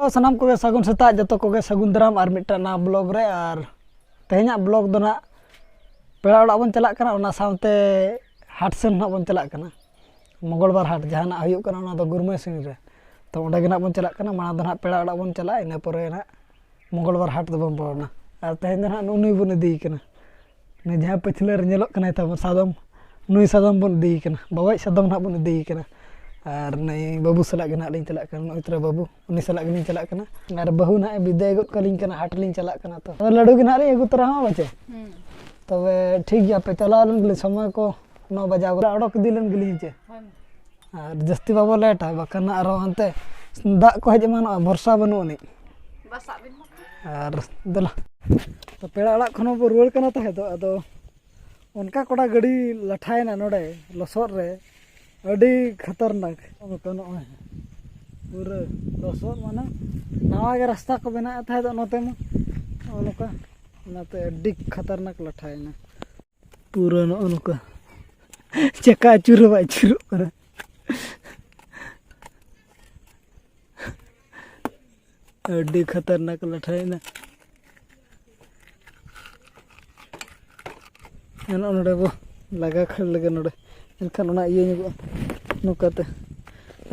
ᱥᱟᱱᱟᱢ ᱠᱚᱜᱮ ᱥᱟᱹᱜᱩᱱ ᱥᱮᱛᱟᱜ ᱡᱚᱛᱚ ᱠᱚᱜᱮ ᱥᱟᱹᱜᱩᱱ ᱫᱟᱨᱟᱢ ᱟᱨ ᱢᱤᱫᱴᱟᱝ ᱱᱟᱣᱟ ᱵᱞᱚᱜ ᱨᱮ ᱟᱨ ᱛᱮᱦᱮᱧᱟᱜ ᱵᱞᱚᱜ ᱫᱚ ᱱᱟᱜ ᱯᱮᱲᱟ ᱚᱲᱟᱜ ᱵᱚᱱ ᱪᱟᱞᱟᱜ ᱠᱟᱱᱟ ᱚᱱᱟ ᱥᱟᱶᱛᱮ ᱦᱟᱴ ᱥᱮᱱ ᱱᱟᱜ ᱵᱚᱱ ᱪᱟᱞᱟᱜ ᱠᱟᱱᱟ ᱢᱚᱝᱜᱚᱞ ᱵᱟᱨ ᱦᱟᱴ ᱡᱟᱦᱟᱱᱟᱜ ᱦᱩᱭᱩᱜ ᱠᱟᱱᱟ ᱚᱱᱟ ᱫᱚ ᱜᱩᱨᱢᱟᱹ ᱥᱤᱝ ᱨᱮ ᱛᱚ ᱚᱸᱰᱮ ᱜᱮ ᱱᱟᱜ ᱵᱚᱱ ᱪᱟᱞᱟᱜ ᱠᱟᱱᱟ ᱢᱟᱲᱟᱝ ᱫᱚ ᱱᱟᱜ ᱯᱮᱲᱟ ᱚᱲᱟᱜ ᱵᱚᱱ ᱪᱟᱞᱟᱜᱼᱟ ᱤᱱᱟᱹ ᱯᱚᱨᱮ ᱱᱟᱜ ᱢᱚᱝᱜᱚᱞ ᱵᱟᱨ ᱦᱟᱴ ᱫᱚᱵᱚᱱ ᱵᱚᱞᱚᱱᱟ ᱟᱨ ᱛᱮᱦᱮᱧ ᱫᱚ ᱱᱟᱜ ᱱᱩᱜᱼᱩ ᱱᱩᱭ ᱵᱚᱱ ᱤᱫᱤᱭᱮ ᱠᱟᱱᱟ ᱚᱱᱮ ᱡᱟᱦᱟᱸ ᱯᱟᱹᱪᱷᱞᱟᱹ ᱨᱮ ᱧᱮᱞᱚᱜ ᱠᱟᱱᱟᱭ ᱛᱟᱵᱚᱱ ᱥᱟᱫᱚᱢ ᱱᱩᱭ ᱥᱟᱫᱚᱢ ᱵᱚᱱ ᱤᱫᱤᱭᱮ ᱠᱟᱱᱟ ᱵᱟᱵᱟᱭᱤᱡ ᱥᱟᱫᱚᱢ ᱦᱟᱸᱜ ᱵᱚᱱ ᱤᱫᱤᱭᱮ ᱠᱟᱱᱟ ᱟᱨ ᱱᱩᱭ ᱵᱟᱹᱵᱩ ᱥᱟᱞᱟᱜ ᱜᱮ ᱦᱟᱸᱜ ᱞᱤᱧ ᱪᱟᱞᱟᱜ ᱠᱟᱱᱟ ᱱᱚᱜᱼᱚᱭ ᱛᱚᱨᱟ ᱵᱟᱹᱵᱩ ᱩᱱᱤ ᱥᱟᱞᱟᱜ ᱜᱮᱞᱤᱧ ᱪᱟᱞᱟᱜ ᱠᱟᱱᱟ ᱟᱨ ᱵᱟᱹᱦᱩ ᱦᱟᱸᱜ ᱵᱤᱫᱟᱹᱭ ᱜᱚᱫ ᱠᱟᱹᱞᱤᱧ ᱠᱟᱱᱟ ᱦᱟᱴ ᱞᱤᱧ ᱪᱟᱞᱟᱜ ᱠᱟᱱᱟ ᱛᱚ ᱞᱟᱹᱰᱩ ᱜᱮ ᱦᱟᱸᱜ ᱞᱤᱧ ᱟᱹᱜᱩ ᱛᱚᱨᱟ ᱦᱚᱸ ᱵᱟᱪᱮ ᱛᱚᱵᱮ ᱴᱷᱤᱠ ᱜᱮᱭᱟ ᱯᱮ ᱪᱟᱞᱟᱣ ᱞᱮᱱ ᱜᱮᱞᱤᱧ ᱥᱚᱢᱚᱭ ᱠᱚ ᱱᱚ ᱵᱟᱡᱟᱣ ᱜᱚᱫᱚᱜᱼᱟ ᱚᱰᱚᱠ ᱤᱫᱤ ᱞᱮᱱ ᱜᱮᱞᱤᱧ ᱦᱮᱸ ᱪᱮ ᱟᱨ ᱡᱟᱹᱥᱛᱤ ᱵᱟᱵᱚ ᱞᱮᱴᱟ ᱵᱟᱠᱷᱟᱱ ᱟᱨᱚ ᱦᱟᱱᱛᱮ ᱫᱟᱜ ᱠᱚ ᱦᱮᱡ ᱮᱢᱟᱱᱚᱜᱼᱟ ᱵᱚᱨᱥᱟ ᱵᱟᱹᱱᱩᱜ ᱟᱹᱱᱤᱡ ᱟᱨ ᱫᱮᱞᱟ ᱛᱚ ᱯᱮᱲᱟ ᱚᱲᱟᱜ ᱠᱷᱚᱱ ᱵᱚ ᱨᱩᱣᱟᱹᱲ ᱠᱟᱱᱟ ᱛᱟᱦᱮᱸ ᱫᱚ ᱟᱫᱚ ᱚᱱᱠᱟ ᱠᱚᱲᱟ ᱜᱟᱹᱰᱤ ᱞᱟᱴᱷᱟᱭᱮᱱᱟ ᱱᱚᱰᱮ ᱞᱚᱥᱚᱫ ᱨᱮ ᱟᱹᱰᱤ ᱠᱷᱟᱛᱟᱨᱱᱟᱠ ᱱᱚᱛᱮ ᱱᱚᱜᱼᱚᱭ ᱯᱩᱨᱟᱹ ᱞᱚᱥᱚᱫ ᱢᱟᱱᱮ ᱱᱟᱣᱟ ᱜᱮ ᱨᱟᱥᱛᱟ ᱠᱚ ᱵᱮᱱᱟᱣᱮᱫ ᱛᱟᱦᱮᱸ ᱫᱚ ᱱᱚᱛᱮ ᱢᱟ ᱱᱚᱜᱼᱚ ᱱᱚᱝᱠᱟ ᱚᱱᱟᱛᱮ ᱟᱹᱰᱤ ᱠᱷᱟᱛᱟᱨᱱᱟᱠ ᱞᱟᱴᱷᱟᱭᱮᱱᱟ ᱯᱩᱨᱟᱹ ᱱᱚᱜᱼᱚ ᱱᱚᱝᱠᱟ ᱪᱟᱠᱟ ᱟᱹᱪᱩᱨ ᱦᱚᱸ ᱵᱟᱭ ᱟᱹᱪᱩᱨᱚᱜ ᱠᱟᱱᱟ ᱟᱹᱰᱤ ᱠᱷᱟᱛᱟᱨᱱᱟᱠ ᱞᱟᱴᱷᱟᱭᱮᱱᱟ ᱱᱚᱜᱼᱚ ᱱᱚᱰᱮ ᱵᱚ ᱞᱟᱜᱟ ᱠᱷᱟᱹᱲ ᱞᱮᱜᱮ ᱱᱚᱰᱮ ᱮᱱᱠᱷᱟᱱ ᱚᱱᱟ ᱤᱭᱟᱹ ᱧᱚᱜᱚᱜᱼᱟ ᱱᱚᱝᱠᱟᱛᱮ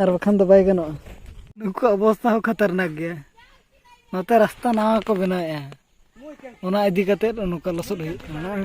ᱟᱨ ᱵᱟᱠᱷᱟᱱ ᱫᱚ ᱵᱟᱭ ᱜᱟᱱᱚᱜᱼᱟ ᱱᱩᱠᱩᱣᱟᱜ ᱚᱵᱚᱥᱛᱟ ᱦᱚᱸ ᱠᱷᱟᱛᱟᱨᱱᱟᱠ ᱜᱮᱭᱟ ᱱᱚᱛᱮ ᱨᱟᱥᱛᱟ ᱱᱟᱣᱟ ᱠᱚ ᱵᱮᱱᱟᱣᱮᱫᱼᱟ ᱚᱱᱟ ᱤᱫᱤ ᱠᱟᱛᱮᱫ ᱱᱚᱝᱠᱟ ᱞᱚᱥᱚᱫ ᱦᱩᱭᱩᱜ ᱠᱟᱱᱟ ᱵᱟᱝ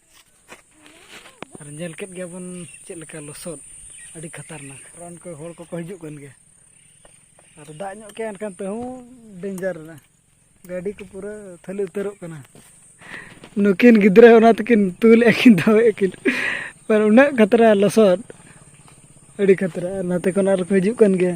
ᱟᱨ ᱧᱮᱞ ᱠᱮᱫ ᱜᱮᱭᱟᱵᱚᱱ ᱪᱮᱫ ᱞᱮᱠᱟ ᱞᱚᱥᱚᱫ ᱟᱹᱰᱤ ᱠᱷᱟᱛᱟᱨᱱᱟᱠ ᱨᱚᱱ ᱠᱚ ᱦᱚᱲ ᱠᱚᱠᱚ ᱦᱤᱡᱩᱜ ᱠᱟᱱ ᱜᱮᱭᱟ ᱟᱨ ᱫᱟᱜ ᱧᱚᱜ ᱠᱮᱜᱼᱟ ᱮᱱᱠᱷᱟᱱ ᱛᱮᱦᱚᱸ ᱰᱮᱧᱡᱟᱨ ᱮᱱᱟ ᱜᱟᱹᱰᱤ ᱠᱚ ᱯᱩᱨᱟᱹ ᱛᱷᱟᱹᱞᱤ ᱩᱛᱟᱹᱨᱚᱜ ᱠᱟᱱᱟ ᱱᱩᱠᱤᱱ ᱜᱤᱫᱽᱨᱟᱹ ᱚᱱᱟ ᱛᱮᱠᱤᱱ ᱛᱩᱞᱮᱫ ᱠᱤᱱ ᱫᱟᱣᱮᱫ ᱠᱤᱱ ᱟᱨ ᱩᱱᱟᱹᱜ ᱠᱷᱟᱛᱨᱟ ᱞᱚᱥᱚᱫ ᱟᱹᱰᱤ ᱠᱷᱟᱛᱨᱟ ᱟᱨ ᱱᱟᱛᱮ ᱠᱷᱚᱱ ᱟᱨᱠᱚ ᱦᱤᱡᱩᱜ ᱠᱟᱱ ᱜᱮᱭᱟ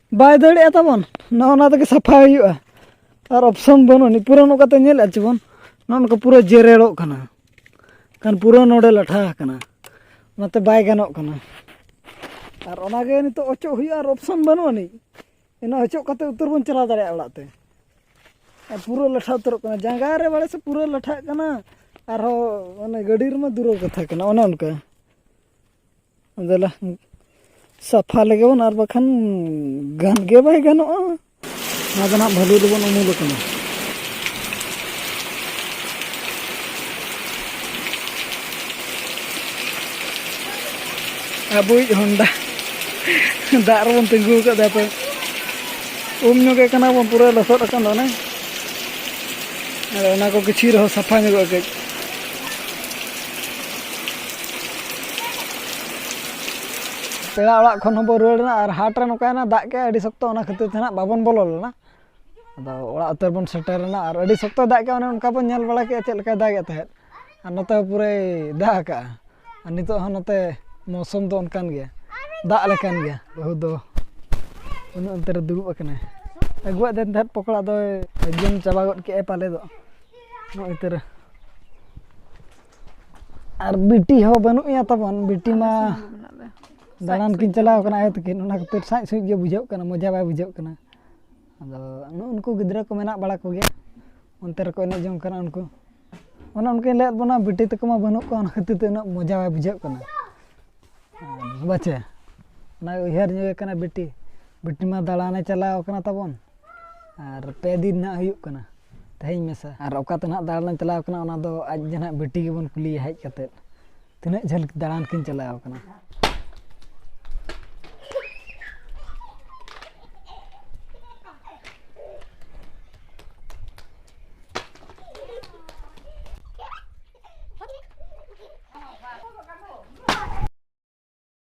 ᱵᱟᱭ ᱫᱟᱹᱲᱮᱜᱼᱟ ᱛᱟᱵᱚᱱ ᱱᱚᱜᱼᱚ ᱱᱚᱣᱟ ᱛᱮᱜᱮ ᱥᱟᱯᱷᱟ ᱦᱩᱭᱩᱜᱼᱟ ᱟᱨ ᱚᱯᱥᱚᱱ ᱵᱟᱹᱱᱩᱜ ᱟᱹᱱᱤᱡ ᱯᱩᱨᱟᱹ ᱱᱚᱝᱠᱟᱛᱮ ᱧᱮᱞᱮᱫ ᱪᱮᱵᱚᱱ ᱱᱚᱜᱼᱚ ᱱᱚᱝᱠᱟ ᱯᱩᱨᱟᱹ ᱡᱮᱨᱮᱲᱚᱜ ᱠᱟᱱᱟ ᱠᱷᱟᱱ ᱯᱩᱨᱟᱹ ᱱᱚᱰᱮ ᱞᱟᱴᱷᱟ ᱟᱠᱟᱱᱟ ᱚᱱᱟᱛᱮ ᱵᱟᱭ ᱜᱟᱱᱚᱜ ᱠᱟᱱᱟ ᱟᱨ ᱚᱱᱟᱜᱮ ᱱᱤᱛᱚᱜ ᱚᱪᱚᱜ ᱦᱩᱭᱩᱜᱼᱟ ᱟᱨ ᱚᱯᱥᱚᱱ ᱵᱟᱹᱱᱩᱜ ᱟᱹᱱᱤᱡ ᱚᱱᱟ ᱚᱪᱚᱜ ᱠᱟᱛᱮ ᱩᱛᱟᱹᱨ ᱵᱚᱱ ᱪᱟᱞᱟᱣ ᱫᱟᱲᱮᱭᱟᱜᱼᱟ ᱚᱲᱟᱜ ᱛᱮ ᱟᱨ ᱯᱩᱨᱟᱹ ᱞᱟᱴᱷᱟ ᱩᱛᱟᱹᱨᱚᱜ ᱠᱟᱱᱟ ᱡᱟᱸᱜᱟ ᱨᱮ ᱵᱟᱲᱮ ᱥᱮ ᱯᱩᱨᱟᱹ ᱞᱟᱴᱷᱟᱜ ᱠᱟᱱᱟ ᱟᱨᱦᱚᱸ ᱚᱱᱮ ᱜᱟᱹᱰᱤ ᱨᱮᱢᱟ ᱫᱩᱨᱚ ᱠᱟᱛᱷᱟ ᱠᱟᱱᱟ ᱚᱱᱮ ᱚᱱᱠᱟ ᱫᱮᱞᱟ ᱥᱟᱯᱷᱟ ᱞᱮᱜᱮ ᱵᱚᱱ ᱟᱨ ᱵᱟᱠᱷᱟᱱ ᱜᱟᱱ ᱜᱮ ᱵᱟᱭ ᱜᱟᱱᱚᱜᱼᱟ ᱱᱚᱣᱟ ᱫᱚ ᱱᱟᱦᱟᱜ ᱵᱷᱟᱹᱞᱤ ᱫᱚᱵᱚᱱ ᱩᱢᱩᱞ ᱟᱠᱟᱱᱟ ᱟᱵᱚᱭᱤᱡ ᱦᱚᱱᱰᱟ ᱫᱟᱜ ᱨᱮᱵᱚᱱ ᱛᱤᱸᱜᱩ ᱟᱠᱟᱫᱟ ᱛᱚ ᱩᱢ ᱧᱚᱜᱮ ᱠᱟᱱᱟ ᱵᱚᱱ ᱯᱩᱨᱟᱹ ᱞᱚᱥᱚᱫ ᱟᱠᱟᱱ ᱫᱚ ᱚᱱᱮ ᱟᱫᱚ ᱚᱱᱟ ᱠᱚ ᱠᱤᱪᱷᱩ ᱨᱮᱦᱚᱸ ᱥᱟᱯᱷᱟ ᱧᱚᱜᱚᱜᱼᱟ ᱠᱟᱹᱡ ᱯᱮᱲᱟ ᱚᱲᱟᱜ ᱠᱷᱚᱱ ᱦᱚᱸᱵᱚ ᱨᱩᱣᱟᱹᱲ ᱮᱱᱟ ᱟᱨ ᱦᱟᱴ ᱨᱮ ᱱᱚᱝᱠᱟᱭᱮᱱᱟ ᱫᱟᱜ ᱠᱮᱫᱟᱭ ᱟᱹᱰᱤ ᱥᱚᱠᱛᱚ ᱚᱱᱟ ᱠᱷᱟᱹᱛᱤᱨ ᱛᱮ ᱦᱟᱸᱜ ᱵᱟᱵᱚᱱ ᱵᱚᱞᱚ ᱞᱮᱱᱟ ᱟᱫᱚ ᱚᱲᱟᱜ ᱩᱛᱟᱹᱨ ᱵᱚᱱ ᱥᱮᱴᱮᱨ ᱮᱱᱟ ᱟᱨ ᱟᱹᱰᱤ ᱥᱚᱠᱛᱚᱭ ᱫᱟᱜ ᱠᱮᱫᱟ ᱚᱱᱮ ᱚᱱᱠᱟ ᱵᱚᱱ ᱧᱮᱞ ᱵᱟᱲᱟ ᱠᱮᱫᱟ ᱪᱮᱫ ᱞᱮᱠᱟᱭ ᱫᱟᱜᱮᱫ ᱛᱟᱦᱮᱸᱫ ᱟᱨ ᱱᱚᱛᱮ ᱦᱚᱸ ᱯᱩᱨᱟᱹᱭ ᱫᱟᱜ ᱟᱠᱟᱫᱼᱟ ᱟᱨ ᱱᱤᱛᱚᱜ ᱦᱚᱸ ᱱᱚᱛᱮ ᱢᱳᱥᱩᱢ ᱫᱚ ᱚᱱᱠᱟᱱ ᱜᱮᱭᱟ ᱫᱟᱜ ᱞᱮᱠᱟᱱ ᱜᱮᱭᱟ ᱵᱟᱹᱦᱩ ᱫᱚ ᱩᱱᱤ ᱚᱱᱛᱮ ᱨᱮ ᱫᱩᱲᱩᱵ ᱟᱠᱟᱱᱟᱭ ᱟᱹᱜᱩᱣᱟᱫ ᱫᱮᱱ ᱛᱟᱦᱮᱸᱫ ᱯᱚᱠᱚᱲᱟ ᱫᱚᱭ ᱡᱚᱢ ᱪᱟᱵᱟ ᱜᱚᱫ ᱠᱮᱫᱟᱭ ᱯᱟᱞᱮ ᱫᱚ ᱱᱚᱜᱼᱚᱭ ᱛᱚᱨᱟ ᱟᱨ ᱵᱤᱴᱤ ᱦᱚᱸ ᱵᱟᱹᱱᱩᱜ ᱮᱭᱟ ᱛᱟᱵᱚᱱ ᱵᱤᱴᱤ ᱢᱟ ᱫᱟᱬᱟᱱ ᱠᱤᱱ ᱪᱟᱞᱟᱣ ᱠᱟᱱᱟ ᱟᱭᱳ ᱛᱟᱹᱠᱤᱱ ᱚᱱᱟ ᱠᱷᱟᱹᱛᱤᱨ ᱥᱟᱡ ᱥᱩᱡ ᱜᱮ ᱵᱩᱡᱷᱟᱹᱜ ᱠᱟᱱᱟ ᱢᱚᱡᱟ ᱵᱟᱭ ᱵᱩᱡᱷᱟᱹᱜ ᱠᱟᱱᱟ ᱟᱫᱚ ᱱᱩᱜᱼᱩ ᱱᱩᱠᱩ ᱜᱤᱫᱽᱨᱟᱹ ᱠᱚ ᱢᱮᱱᱟᱜ ᱵᱟᱲᱟ ᱠᱚᱜᱮᱭᱟ ᱚᱱᱛᱮ ᱨᱮᱠᱚ ᱮᱱᱮᱡ ᱡᱚᱝ ᱠᱟᱱᱟ ᱩᱱᱠᱩ ᱚᱱᱮ ᱚᱱᱠᱟᱧ ᱞᱟᱹᱭᱟᱫ ᱵᱚᱱᱟ ᱵᱤᱴᱤ ᱛᱟᱠᱚ ᱢᱟ ᱵᱟᱹᱱᱩᱜ ᱠᱚᱣᱟ ᱚᱱᱟ ᱠᱷᱟᱹᱛᱤᱨ ᱛᱮ ᱩᱱᱟᱹᱜ ᱢᱚᱡᱟ ᱵᱟᱭ ᱵᱩᱡᱷᱟᱹᱜ ᱠᱟᱱᱟ ᱵᱟᱪᱮ ᱚᱱᱟ ᱩᱭᱦᱟᱹᱨ ᱧᱚᱜᱮ ᱠᱟᱱᱟ ᱵᱤᱴᱤ ᱵᱤᱴᱤ ᱢᱟ ᱫᱟᱬᱟᱱᱮ ᱪᱟᱞᱟᱣ ᱠᱟᱱᱟ ᱛᱟᱵᱚᱱ ᱟᱨ ᱯᱮ ᱫᱤᱱ ᱱᱟᱦᱟᱜ ᱦᱩᱭᱩᱜ ᱠᱟᱱᱟ ᱛᱮᱦᱮᱧ ᱢᱮᱥᱟ ᱟᱨ ᱚᱠᱟᱛᱮ ᱱᱟᱦᱟᱜ ᱫᱟᱬᱟᱱᱮᱢ ᱪᱟᱞᱟᱣ ᱠᱟᱱᱟ ᱚᱱᱟ ᱫᱚ ᱟᱡ ᱜᱮ ᱱᱟᱦᱟᱜ ᱵᱤᱴᱤ ᱜᱮᱵᱚᱱ ᱠᱩᱞᱤᱭᱮᱭᱟ ᱦᱮᱡ ᱠᱟᱛᱮᱫ ᱛᱤᱱᱟᱹᱜ ᱡᱷᱟᱹᱞ ᱫᱟᱬᱟᱱ ᱠᱤᱱ ᱪᱟᱞᱟᱣ ᱠᱟᱱᱟ